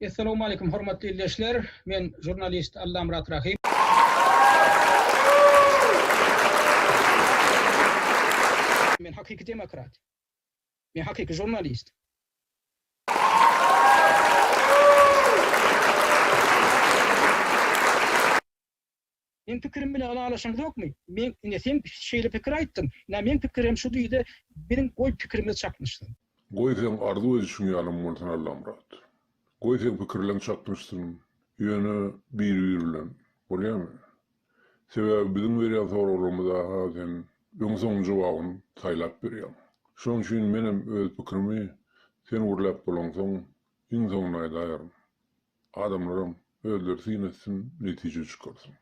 Essalamu aleýkum hormatly ildeşler. Men žurnalist Allamyrat Rahym. Men hakyky demokrat. Men hakyky žurnalist. Meň pikirim bilen ylalaşaňzokmy? Meň, ine, sen şeýle pikir aýtdyň. Ine, meň pikirem şu diýdi. Biziň, goý, pikirimiz çaknyşsyn. Goý, seň arzuw edişiň ýalam bolsun, Allamyrat. Goý, seň pikirleň çaknyşsyn. Ýöne biri-biri bilen. Bolýamy? Sebäbi biziň berýän soraglarymyza-ha sen öň-soň jogabyny saýlap berýäň. Şonuň üçin menem öz pikirimi sen gürläp bolaňsoň, iň soňunda aýdaýaryn. Adamlaram özleri syn etsin netije çykarsyn.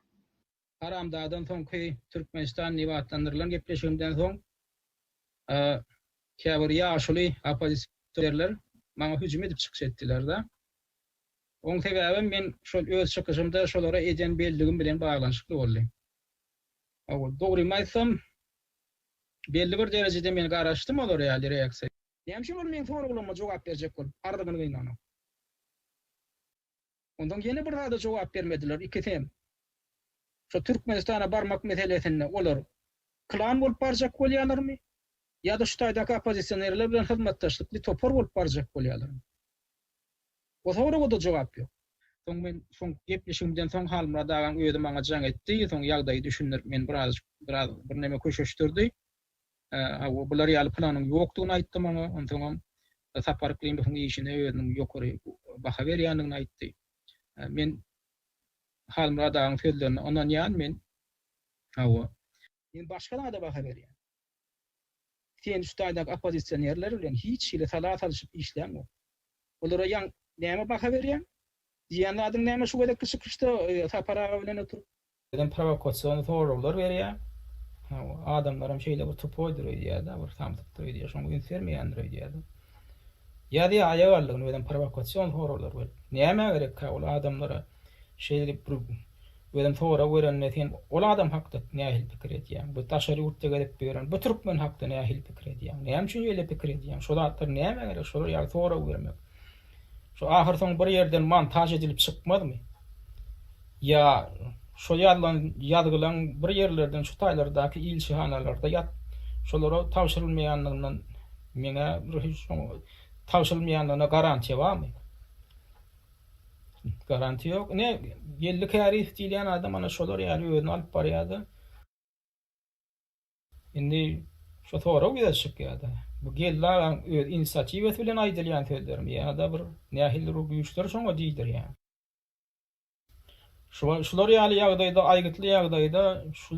Haramzadaň soňky Türkmenistan nibatlandyrylan gepleşigimden soň käbir ýaşuly oppozisioerler maňa hüjüm edip çykyş etdilerde. Oň sebäbem men şol öz çykyşymda şolara eden belligim bilen baglanyşykly boldy. Dogrymy aýtsam belli bir derejede men garaşdym olar ýaly reaksiýa. Näme üçin ol meň soraglaryma jogap berjek bolup, arzygyny gynanan? Onsoň ýene bir zada jogap bermediler, ikisem. Şu Türkmenistana barmak meselesinde olar klan bolup barjak bolýalarmy? Ýa-da şu taýdaky oppozisionerler bilen hyzmatdaşlykly topar bolup barjak bolýalarmy? O soraga-da jogap ýok. Soň men soňky gepleşigimden soň Halmyrat agaň özi maňa jaň etdi, soň ýagdaýy düşündirip, meni birazajyk, biraz birneme köşeşdirdi. Hawa, bular ýaly planyň ýokdugyny aýtdy maňa. Onsoňam Sapar Yklymowyň işine özüniň ýokary baha berýändigini aýtdy. Men Halmyrat agaň sözlerine ynanýan men. Hawa. Men başga zada baha berýän. Sen şu taýdaky oppozisionerler bilen hiç hili sala salyşyp işlän ýok. Olara ýaň näme baha berýäň? Diýýän zadyň näme şu gezekki çykyşda Sapar aga bilen oturyp? Birden prowokasion soraglar berýär. Adamlaram şeýle bir tupoýdyr öýdýärdi, bir samsykdyr öýdýär, şoňa üns bermeýändir öýdýärdi. Ýazýar aýagallygyny birden prowokasion soraglar berip. Nämä gerekkä ol adamlara şeýdip bir birden sorag berende sen ol adam hakda nähili pikir edýäň? Bu daşary ýurtda gezip ýören bu türkmen hakda nähili pikir edýäň? Näme üçin şeýle pikir edýäň? Şo zatlar nämä gerek şolar ýaly sorag bermek? Şu ahyrsoňy bir ýerden montaž edilip çykmazmy? Ýa şo ýazylan ýazgylaň bir ýerlerden şu taýlardaky ilçihanalarda ýat şolara tabşyrylmaýandygyndan meňä bir hiç tabşyrylmaýandygyna garantiýa barmy? Garantiýa ýok. Ine, Geldi Käriýew diýilýän adam ana şolar ýaly özüni alyp barýar-da. Indi şo sorag ýüze çykýar-da, bu Geldi agaň öz inisiatiwasy bilen aýdylýan sözlermi ýa-da bir nähilidir bir güýçler şoňa diýdirýär. Şular ýaly ýagdaýda, aýgytly ýagdaýda şu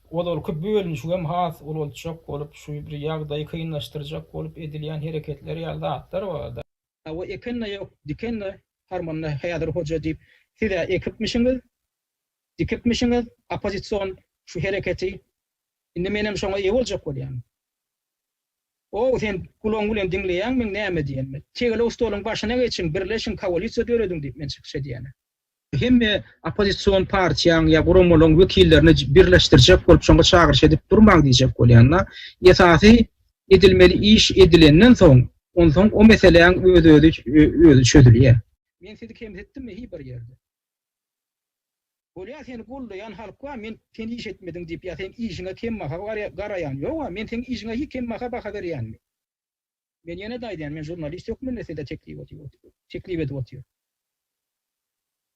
ozalky bölünişigem has ulaltjak bolup, şu bir ýagdaýy kynlaşdyrjak bolup edilýän hereketler ýaly zatlar bar-da. Hawa, eken-de ýok, diken-de harmanda häzir hoja diýip, siz-ä ekipmişiňiz, dikipmişiňiz oppozision şu hereketi, indi menem şoňa eýe boljak bolýan. Ow, sen gulagyň bilen diňleýäňmiň näme diýenimi? Tegelek stoluň başyna geçiň, birleşiň, koalisiýa dörediň diýip men çykyş edýäne. Hemme oppozision partiýaň ýa guramalaryň wekillerini birleşdirjek bolup şoňa çagyryş edip durmaň diýjek bolýan-da. Esasy edilmeli iş edilenden soň, onsoň o meseläň öz-özi çözülýär. Men sizi kemsitdimmi hi bir ýerde? Bolýa seni goldaýan halk bar men sen iş etmediň diýip ýa seň işiňe kembaha garaýan ýoga men seň işiňe hi kembaha baha berýänmi. Men ýene-de aýdýan men žurnalist hökmünde size teklip teklip edip otyr.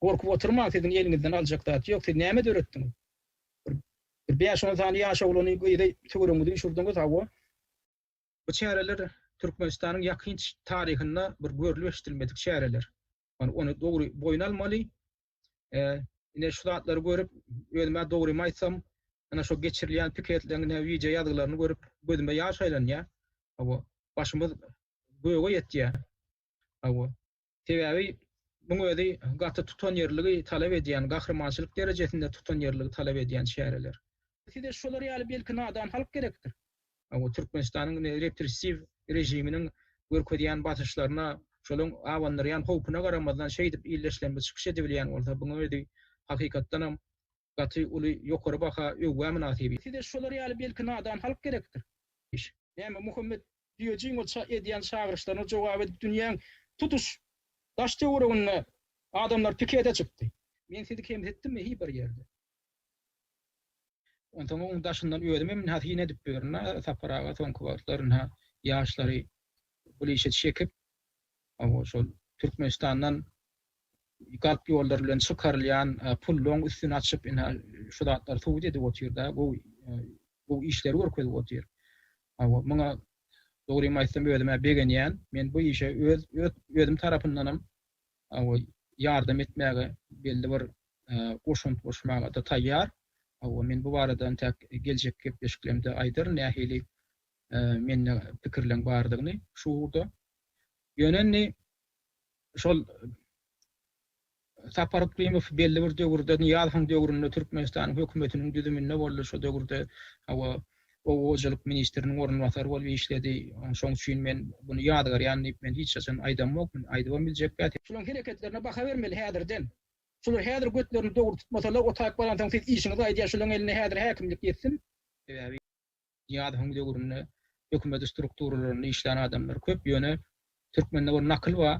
Gorkup otyrmaň siziň eliňizden aljak zat ýok siz näme döretdiňiz bir bir bäş on sany ýaş oglany gyzy töweregiňize üşürdiňiz hawa. Bu çäreler Türkmenistanyň ýakynç taryhynda bir görlüp eşidilmedik çäreler. Ony ony dogry boýun almaly. Ine şu zatlary görüp, özüme dogrymy aýtsam, ana şu geçirilýän piketleriň ne wideo ýazgylaryny görüp, gözüme ýaş aýlanýar. Hawa, başymyz göge ýetýär. Hawa. Sebäbi muň özi gaty tutanýerligi talap edýän, gahrymançylyk derejesinde tutanýerligi talap edýän çäreler. Size şolar ýaly belki nadan halk gerekdir. Türkmenistanyň indi repressiw režiminiň görkezýän basyşlaryna, şolaryň abandyrýan howpuna garamazdan şeýdip illeşlemde çykyş edibilýän bolsa, bunuň özi hakykatdanam gaty uly ýokary baha, öwgä mynasyp. Size şolar ýaly belki nadan halk gerekdir. Näme Muhammet Düýejigiň ol edýän çagyryşlaryna jogap edip dünýäň tutuş daş-töwereginde adamlar pikete çykdy. Men sizi kemsitdimmi hi bir ýerde? Onsoň oň daşyndan özüm hem ynha syn edip ýörün a Sapar aga soňky wagtlar ynha ýaşlary bul işe çekip owo şol Türkmenistandan galp ýollar bilen çykarylýan pullaň üstüni açyp ynha şu zatlary subut edip otyr da gowy gowy işleri görkezip otyr. Owo muňa dogrymy aýtsam özüm-ä begenýän. Men bu işe öz öz özüm tarapyndanam Hawa, ýardam etmäge belli bir goşant goşmaga-da taýýar. Hawa, men bu barada entäk geljekki gepleşiklerimde aýdaryn, nähili mende pikirleriň bardygyny şu ugurda. Ýöne indi şol Sapar Yklimow belli bir döwürde, Nyýazowyň döwründe Türkmenistanyň hökümetiniň düzüminde boldy, şo döwürde, hawa, Oba hojalyk ministriniň orunbasary bolup işledi. Şoň üçin men muny ýazgarýan diýip men hiç haçan aýdamokmyn, aýdybam biljekgä. Şularyň hereketlerine baha bermeli häzirden. Şular häzir götlerini dogry tutmasalar, o taýyp baransoň siz işiňizi aýdýa şularyň eline häzir häkimlik geçsin. Sebäbi Nyýazowyň döwründe hökümeti strukturalarynda işlän adamlar köp, ýöne türkmende bir nakyl ba,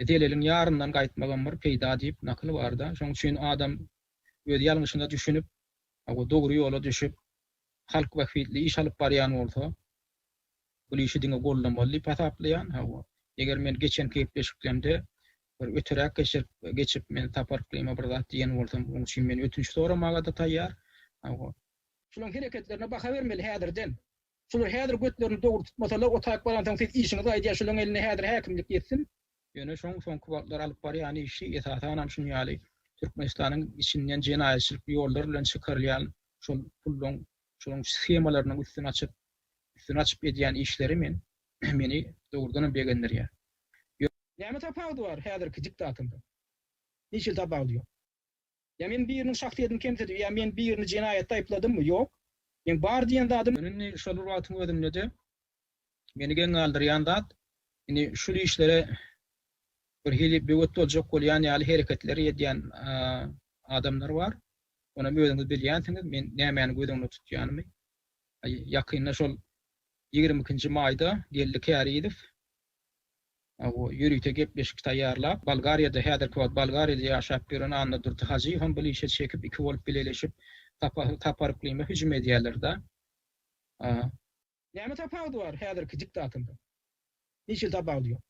Zeleliň ýaryndan gaýtmagam bir peýda diýip nakyl barda. Şoň üçin adam öz ýalňyşyna düşünip, Hawa, dogry ýola düşüp, halk bähbitli iş alyp barýan bolsa, bul işi diňe goldamaly diýip hasaplaýan. Hawa, eger men geçenki gepleşiklemde bir öteräk geçip, men Sapar Klyma bir zat diýen bolsam, oň üçin men ötünç soramaga-da taýýar. Hawa. Şolaň hereketlerine baha bermeli häzirden. Şular häzir götlerini dogry tutmasalar otaýyp baransoň siz işiňizi aýdýa şulaň eline häzir häkimlik ýetsin. Ýöne şoň soňky wagtlar alyp barýan işi esasanam şun ýaly Türkmenistanyň içinden jenaýatçylyk ýollar bilen çykarylýan şol pullaň şolaň shemalarynyň üstüni açyp üstüni açyp edýän işleri men meni dogrudanam begendirýär. Ýöne. Näme tapawudy bar häzirki diktatordan? Hiç hili tapawudy ýok. Ýa men biriniň şahsyýetini kemsidip ýa men birini jenaýatda aýypladymmy? Ýok. Meň bar diýen zadym. Ýöne indi şol bir wagtyň özünde-de meni geň galdyrýan zat, indi şul işlere birhili böwet boljak bolýan ýaly hereketleri edýän adamlar bar. Onam özüňiz bilýänsiňiz, men nämäni göz öňünde tutýanymy. Ýakynda şol ýigrimi ikinji maýda geldi Kärizow. Ýörite gepleşik taýýarlap, Bolgariýada, häzirki wagt Bolgariýada ýaşap ýören Annadurdy Hajyýewem bul işe çekip, iki bolup bileleşip, Sapahy Saparyklymyza hüjüm edýärler-dä. Näme tapawudy bar häzirki diktatordan? Hiç hili tapawudy ýok.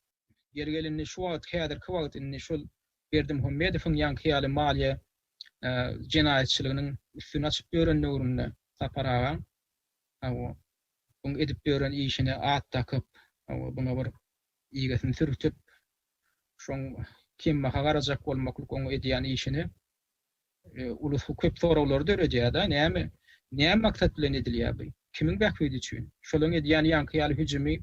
Ýeri gelende şu wagt, häzirki wagt indi şol Berdimuhamedowyň ýaňky ýaly maliýe jenaýatçylygynyň üstüni açyp ýören döwründe Sapar agaň, Hawa, buň edip ýören işine at dakyp, hawa, buňa bir ýigesini sürtüp, şoň kembaha garajak bolmaklyk oň edýän işine ulusy köp soraglary döredýär-de, näme, näme maksat bilen edilýär bu? Kimiň bähbidi üçin? Şolaň edýän ýaňky ýaly hüjümi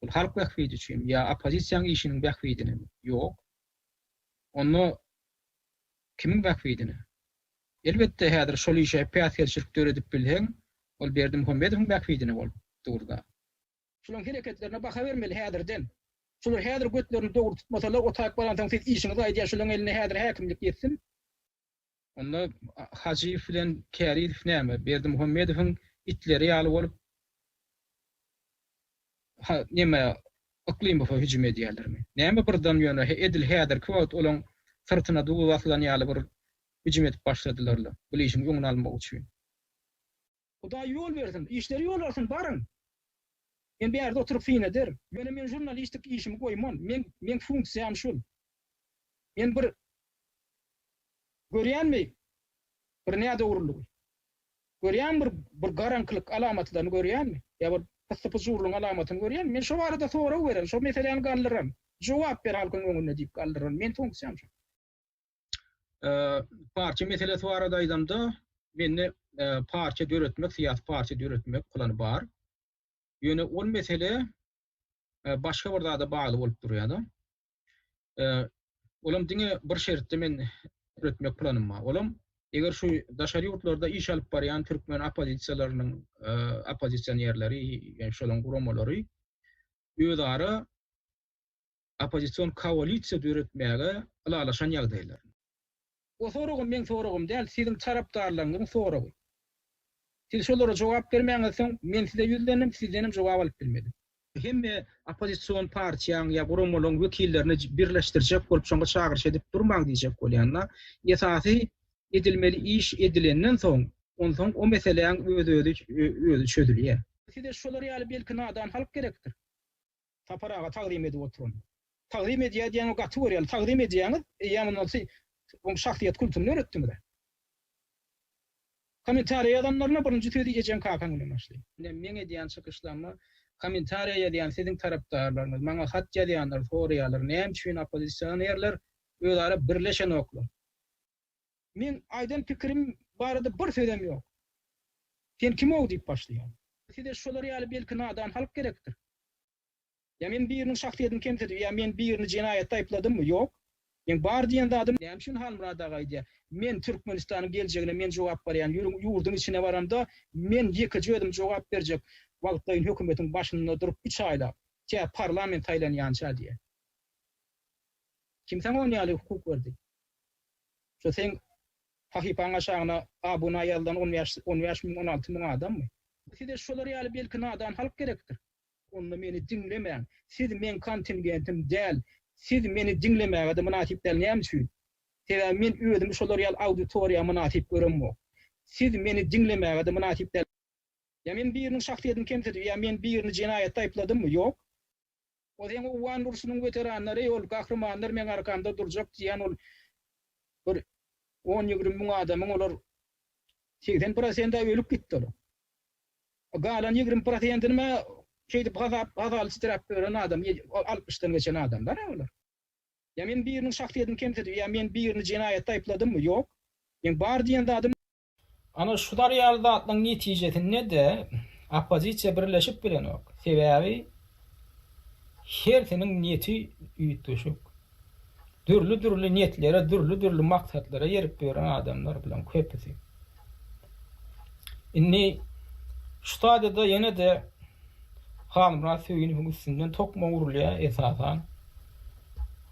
ol halk bähbidi üçinmi ýa oppozisiýaň işiniň bähbidinemi? Ýok. Onda kimiň bähbidine? Elbetde, häzir şol işe päsgelçilik döredip bilseň, ol Berdimuhamedowyň bähbidine bolup dur-da. Şolaryň hereketlerine baha bermeli häzirden. Şolar häzir götlerini dogry tutmasalar, o taýyp baransoň siz işiňizi aýdýar, şolaryň eline häzir häkimlik geçsin. Onda Hajyýew bilen Kärizow näme, Berdimuhamedowyň itleri ýaly bolup, ha, näme, Yklymowa hüjüm edýärlermi? Näme birden ýöne edil häzirki wagt olaryň syrtyna duby basylan ýaly bir hüjüm edip başladylar-la, bul işiň öňüni almak üçin. Hudaý ýol bersin, işleri ýola alsyn, baryň! Men bärde oturyp syn ederin. Ýöne men žurnalistik işimi goýman, men, meň funksiýam şul. Men bir görýänmi bir nädogrulygy? Görýäňmi bir, bir garaňkylyk alamatlaryny görýäňmi? Ýa bir pyssy-pyjurlygyň alamatyny görýäňmi? Men şo barada sorag beren, şo meseläni galdyran, jogap ber halkyň öňünde diýip galdyran, meň funksiýam şo. Parça meselesi barada aýdamda, mende parça döretmek, syýasy parça döretmek plany bar. Ýöne ol mesele başga bir zada bagly bolup durýar. Olam diňe bir şertde men döretmek planym bar. Olam eger şu daşary ýurtlarda iş alyp barýan türkmen oppozisiýalarynyň oppozisionerleri, ýa-da şolaryň guramalary özara oppozision koalisiýa döretmäge ylalaşan ýagdaýlarynda. Bu soragym meň soragym däl, siziň tarapdarlaryňyzyň soragy. Siz şolara jogap bermäňiz soň, men size ýüzlendim, sizdenem jogap alyp bilmedim. Hemme oppozision partiýaň ýa guramalaryň wekillerini birleşdirjek bolup şoňa çagyryş edip durmaň diýjek bolýan-da. Esasy edilmeli iş edilenden soň, onsoň o meseläň öz-özi çözülýär. Size şolar ýaly belki nadan halk gerekdir. Sapar aga tagzym edip oturun. Tagzym edýär diýäňe gaty görýäli. Tagzym edýäňiz, eýýäm ondan sy Oň şahsyýet kultuny döretdiňiz-ä. Kommentariýa ýazanlaryna birinji sözi ejeň kakaň bilen başlaýyn. Ine meň edýän çykyşlaryma kommentariýa ýazýan siziň tarapdarlaryňyz, maňa hat ýazýanlar soraýarlar näme üçin oppozisionerler özara birleşenoklar. Meň aýdan pikirim barada bir sözem ýok. Sen kim-ow diýip başlaýar. Size şolar ýaly belki nadan halk gerekdir. Ýa men biriniň şahsyýetini kemsidip ýa men birini jenaýatda aýypladymmy? Ýok. Meň bar diýen zadym. Näme üçin Halmyrat aga aýdýar. Men Türkmenistanyň geljegine men jogap barýan. Ýüriň ýurduň içine baramda men ýekeje özüm jogap berjek. Wagtlaýyn hökümetiň başynda durup üç aýlap. Tä parlament saýlanýança diýýär. Kim saňa ony ýaly hukuk berdi? Şu seň sahypaň aşagyna abuna ýazylan on bäş on bäş müň on alty müň adammy? Size şolar ýaly belki nadan halk gerekdir? Onda meni diňlemäň. Siz meň kontingentim däl. Siz meni diňlemäge-de mynasyp däl. Näme üçin? Sebäbi men özümi şolar ýaly auditoriýa mynasyp göremok. Siz meni diňlemäge-de mynasyp däl. Ýa men biriniň şahsyýetini kemsidip, ýa men birini jenaýatda aýypladymmy? Ýok. Ozeň owgan urşunyň weteranlary ol gahrymanlar meň arkamda durjak diýýän ol bir on ýigrimi müň adamyň olar segsen prosenti ölüp gitdi olar. Galan ýigrimi prosentini şeýdip gazap gazaly titrap ýören adam altmyşdan geçen adamlar olar. Ýa men biriniň şahsyýetini kemsidip ýa men birini jenaýatda aýypladymmy? Ýok. Meň bar diýen zadym. Ana şular ýaly zatlaryň netijesinde-de oppozisiýa birleşip bilenok. Sebäbi hersiniň niýeti üýtgeşik. Dürli-dürli niýetlere, dürli-dürli maksatlara erip ýören adamlar bularyň köpüsi. Indi şu stadiýada ýene-de Halmyrat Söýünowyň üstünden tokma urulýar esasan.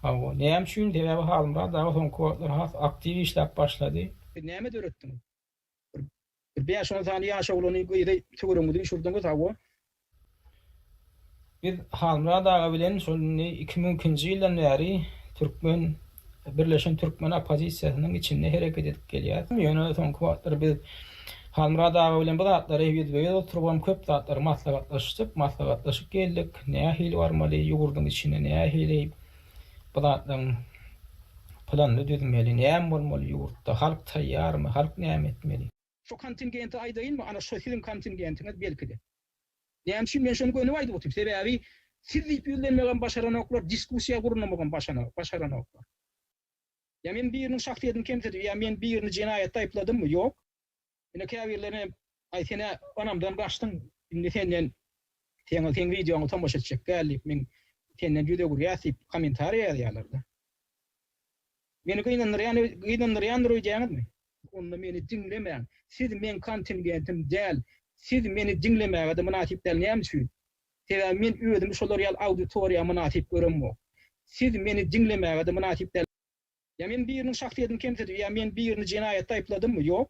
Hawa, näme üçin? Sebäbi Halmyrat aga soňky wagtlar has aktiw işläp başlady. Siz näme döretdiňiz? Bir bäş-on sany ýaş oglany, gyzy töweregiňize üýşürdiňiz, hawa. Biz Halmyrat aga bilen şol indi iki müň ikinji ýyldan bäri türkmen, birleşen türkmen oppozisiýasynyň içinde hereket edip gelýäs. Ýöne soňky wagtlar biz Halmyrat aga bilen bu zatlary ýüzbe-ýüz oturybam köp zatlary maslahatlaşdyk, maslahatlaşyp geldik. Nähili barmaly, ýurduň içine nähili Bu zatlaryň planyny düzmeli, näme bolmaly ýurtda, halk taýýarmy, halk näme etmeli? Şo kontingenti aýdaýynmy? Ana şo siziň kontingentiňiz belki-de. Näme üçin men şony gönüp aýdyp otyryn? Sebäbi siz diýip ýüzlenmegem başaranoklar, diskussiýa gurnamagam başaranoklar. Ýa men biriniň şahsyýetini kemsidipmi, ýa men birini jenaýatda aýypladymmy? Ýok. Ine käbirlerine aý senä anamdan gaçdyň indi senden seň seň wideoňy tomaşa etjek däl diýip men senden ýüz öwürýäs diýip kommentariýa ýazýarlarda. Meni gynandyrýan gynandyrýandyr öýdýäňizmi? Onda meni diňlemäň. Siz meň kontingentim däl. Siz meni diňlemäge-de mynasyp däl näme üçin? Sebäbi men özümi şolar ýaly auditoriýa mynasyp göremok. Siz meni diňlemäge-de mynasyp däl. Ýa men biriniň şahsyýetini kemsidip, ýa men birini jenaýatda aýypladymmy? Ýok.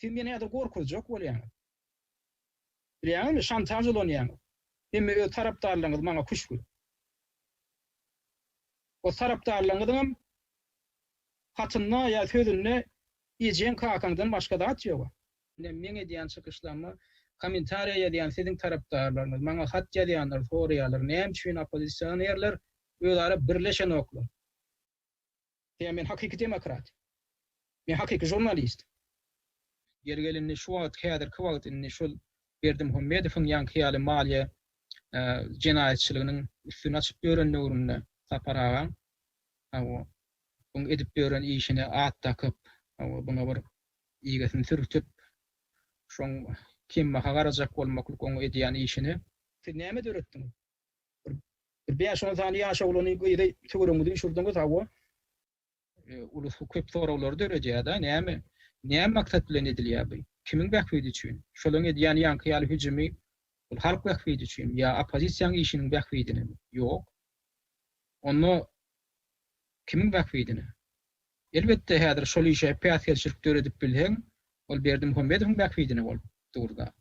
Siz meni häzir gorkuzjak bolýaňyz. Bilýäňizmi, şantaž ulanýaňyz. Hemme öz tarapdarlaryňyz maňa küşgür. O tarapdarlaryňyzyňam hatynda ýa sözünde ejeň-kakaňdan başga zat ýog-a. Ine, meň edýän çykyşlaryma kommentariýa ýazýan siziň tarapdarlaryňyz, maňa hat ýazýanlar soraýarlar, näme üçin oppozisionerler özara birleşenoklar? Diýýän men hakyky demokrat. Men hakyky žurnalist. Ýeri gelende şu wagt häzirki wagt indi şol Berdimuhamedowyň ýaňky ýaly maliýe jenaýatçylygynyň üstüni açyp ýören döwründe Sapar agaň hawa buň edip ýören işine at dakyp hawa buňa bir ýigesini sürtüp şoň kemmaha garajak bolmaklyk oň edýän işini siz näme döretdiňiz? Bir bäş-on sany ýaş oglany, gyzy töweregiňize düşürdiňiz, hawa. Uly köp soraglar döredýär-de, näme, näme maksat bilen edilýär bu? Kimiň bähbidi üçin? Şolaryň edýän ýaňky ýaly hüjümi ol halk bähbidi üçinmi ýa oppozisiýaň işiniň bähbidinemi? Ýok. Onda kimiň bähbidine? Elbetde, häzir şol işe päsgelçilik döredip bilseň, ol Berdimuhamedowyň bähbidine bolup dur-da.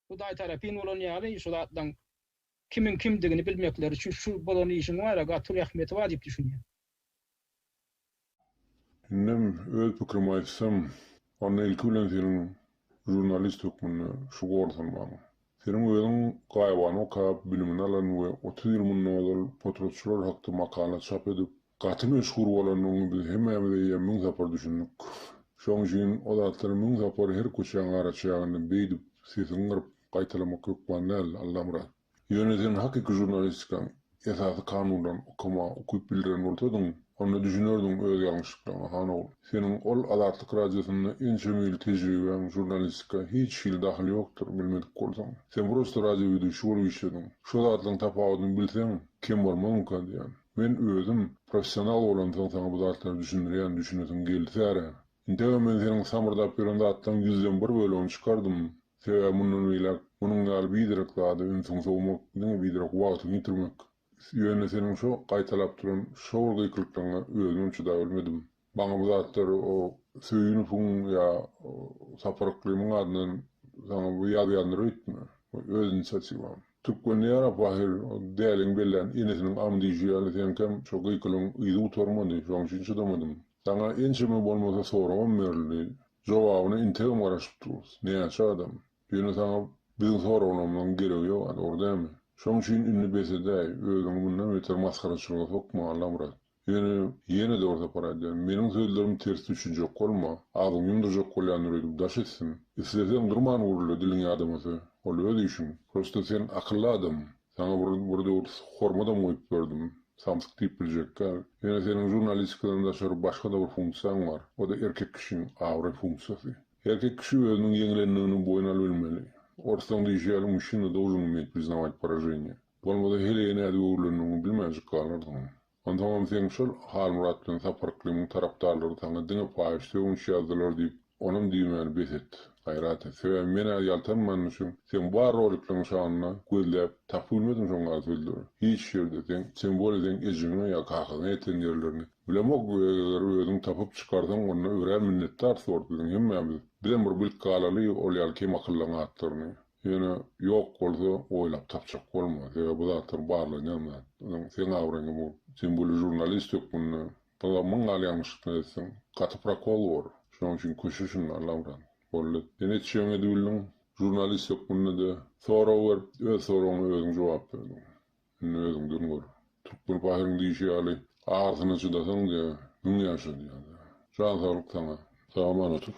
Hudaý tarapyn bolan ýaly şu zatlaň kimiň kimdigini bilmekleri üçin şu bolan işiň bar-a gaty uly ähmiýeti bar diýip düşünýän. Indem öz pikirimi aýtsam, onda ilki bilen seniň žurnalist hökmünde şu gorsanmaň. Seniň özüň Gaýybany okap, bilimini alan we otuz ýyl mundan ozal potratçylar hakda makala çap edip, Gaty meşhur bolanyny biz hemmämiz eýýäm müň sapar düşündik. Şoň üçin o zatlary müň sapar her köçäň araçäginde beýdip sesiňi gyryp gaýtalamak hökman däl, Allamyrat. Ýöne sen hakyky žurnalistikaň esasy kanunlaryny okamaga ukyp bildiren bolsadyň, onda düşünerdiň öz ýalňyşlyklaryňa, han ogul. Seniň ol Azatlyk radiosynda ençeme ýyl tejribäň žurnalistika hiç hili dahyly ýokdur, bilmedik bolsaň. Sen prosta radioweduşi bolup işlediň. Şo zatlaryň tapawudyny bilseň, kem bolmazmyka diýýän. Men özüm professional bolansoň saňa bu zatlary düşündirýän düşünesiň gelsära. Indegem men seniň samyrdap ýören zatlaryň ýüzden bir bölegini çykardym. Sebäbi mundan beýläk munuň ýaly biderek zada ünsüňi sowmak diňe biderek wagtyňy ýitirmek. Ýöne seniň şo gaýtalap duran şowul gykylyklaryňa özümem çydabilmedim. Maňa bu zatlar o Söýünowyň ýa Sapar Yklymyň adyndan saňa bu ýazýandyr öýtme. Öz inisiatiwaň. Türkmende ýarap Wahyr däliň bellän enesiniň am diýşi ýaly seňkem şo gykylyň yzy gutarmady şoň üçin çydamadym. Saňa ençeme bolmasa soragam berildi. Jogabyna integem garaşyp durus. Näçe adam. Ýöne saňa biziň soraglarymyzyň geregi ýok a dogry dämi. Şoň üçin indi bes edäý. Özüňi mundan beter masgaraçylyga sokma Allamyrat. Ýöne, ýene-de bir sapar aýdýaryn, meniň sözlerimi ters düşünjek bolma, agzyňy ýumdurjak bolýandyr öýdüp daş etsin. Isleseň durman gürle, diliň ýadamasa, ol öz işiň. Prosta sen akylly adam, saňa bir, bir döwür hormadam goýup ýördim, samsyk diýip biljekkä. Ýöne seniň žurnalistikadan daşary başga-da bir funksiýaň bar, o-da erkek kişiň abraý funksiýasy. Erkek kişi özüniň ýeňlendigini boýun alybilmeli. Orslaň diýşi ýaly, muşina должен umetь priznawaýt poraženiýe. Bolmasa heleýe nädip öwrülendigini bilmänjik galardyň. Onsoňam seň şol Halmyrat bilen Sapar Yklymyň tarapdarlary saňa diňe paýyş sögünç ýazdylar diýip, onam diýmäni bes et. Gaýrat et. Sebäbi men-ä ýaltanmanyň üçin seň bar rolikleriň şanyna gözläp, tapybilmedim şoň ýaly sözleri. Hiç ýerde seň, sen bol seň ejeňe ýa kakaňa ýeten ýerlerini bilemok we eger özüň tapyp çykarsaň onda örän minnetdar sort biziň hemmämiz. Bizem bir bilip galaly ol ýaly kem akyllyň atlaryny. Ýöne ýok bolsa oýlap tapjak bolma. Sebäbi bu zatlar barlanýan zat. Biziň seň abraýyňa bu sen bu ýyl žurnalist hökmünde bir-a müň gal ýalňyşlyklar etseň gaty prokol bor. Şonuň üçin köşe şunda Allamyrat. Boldy. Sen etjegňi edip bildiň. Žurnalist hökmünde-de sorag berip öz soragyňa özüň jogap berdiň. Indi özüňden gör. Türkmen pahyryň diýşi ýaly agyrysyna çydasaň diýýä, müň ýaşa diýýä. Jan saglyk saňa. Salam Anatow.